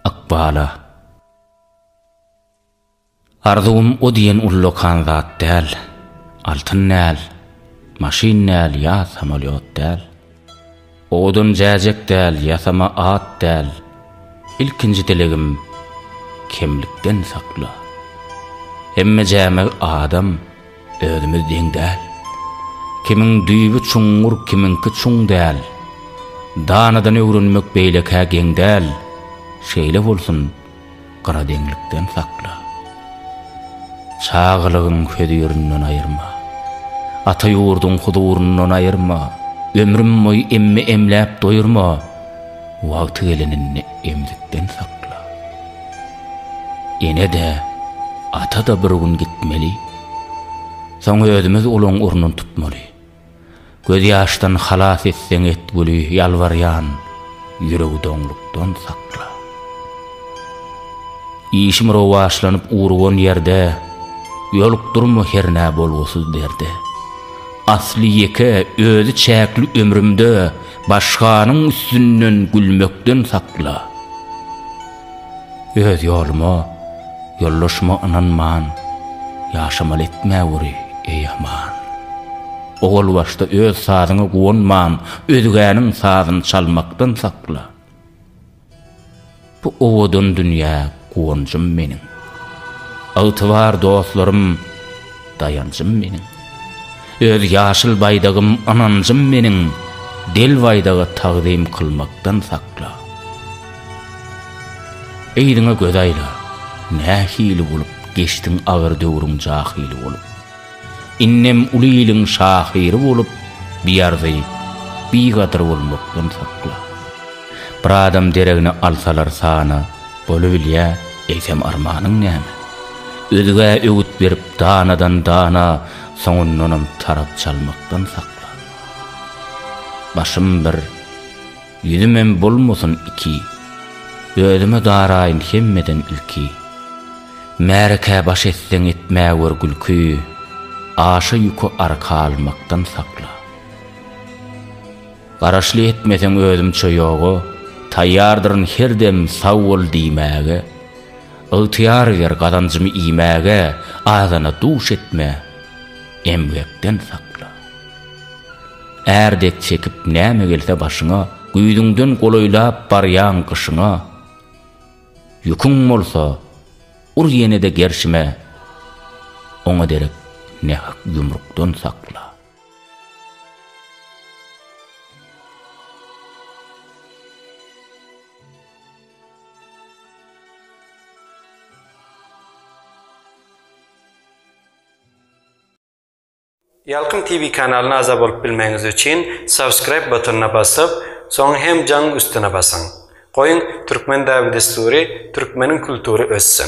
Ykbala. Arzuwym o diýen ullakan zat däl, Altyn däl, maşyn däl ýa samolýot däl, Owadan jäjek däl, ýasama at däl, Ilkinji dilegim, kemlikden sakla. Hemme jäme adam. Özümiz deň däl. Kimiň düýbi çuňňur, kimiňki çuň däl. Danadan öwrenmek beýlekä geň däl. Şeýle bolsun, gyradeňlikden sakla. Çagalygyň hözirinden aýyrma. Ata ýurduň huzuryndan aýyrma. Ömrüm boýy emme emläp doýurma. Wagty geleninde emzikden sakla. Ene-de, ata-da bir gün gitmeli. Soň özümiz uluň urnun tutmaly. Gözýaşdan halas etseň et güli ýalbarýan ýüregi doňlukdan sakla. Işim rowaçlanyp urgan ýerde ýolukdurma hernä bolgusyz derde. Asly ýeke, özi çäkli ömrümde başganyň üstünden gülmekden sakla. Öz ýoluma, ýoldaşyma ynanman, Ýaşamaly etme güri, eý aman. Owal başda öz sazyňa guwanman, Özgäniň sazyny çalmakdan sakla. Bu owadan dünýä guwanjym meniň. Ygtybar dostlarym. Daýanjym meniň. Öz ýaşyl baýdagym ynanjym meniň, Del baýdaga tagzym kylmakdan sakla. Yzyňa göz aýla, nähili bolup Geçdiň agyr döwrüň jahyly bolup. Indem uly iliň şahyry bolup, Biarzy, bigadyr bolmakdan sakla. Bir adam deregine alsalar sana, Bolubilýär, eýsem armanyň näme? Özgä öwüt berip danadan dana, soňundanam tarap çalmakdan saklan. Başym bir, ýüzümem bolmasyn iki, özüme daraýyn hemmeden ilki. Märekä baş etseň etmäwer gülki, aşa-ýuka arka almakdan saklan. Garaşly etmeseň özümçe ýoga Taýýardyryn her dem sag bol diýmäge Ygtyýar ber gazanjymy iýmäge Azana duş etme, emgekden sakla Är dek çekip näme gelse başyňa Güýzüňden golaýlap barýaň gyşyňa Ýüküň bolsa, ur ýene-de gerşime Oňa derek nähak ýumrukdan sakla. Ýalkym TV kanalyna agza bolup bilmegiňiz üçin subscribe butonyna basyp, soň hem jaň üstüne basyň. Goýuň, Türkmen däbi-dessury, Türkmeniň kultury össin!